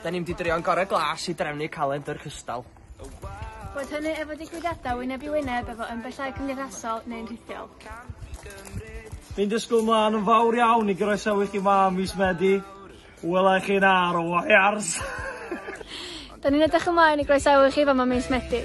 Da ni'n mynd i drio yn gore glas i drefnu calendr cystal. Boed hynny efo digwyddiadau wyneb i wyneb efo ymbellau cymdeithasol neu'n rhithiol. Fi'n disgwyl mlaen yn fawr iawn i groesawu chi ma ym mis Medi. Wela i chi'n ar y wires! Da ni'n edrych ymlaen i groesawu chi fama mis Medi.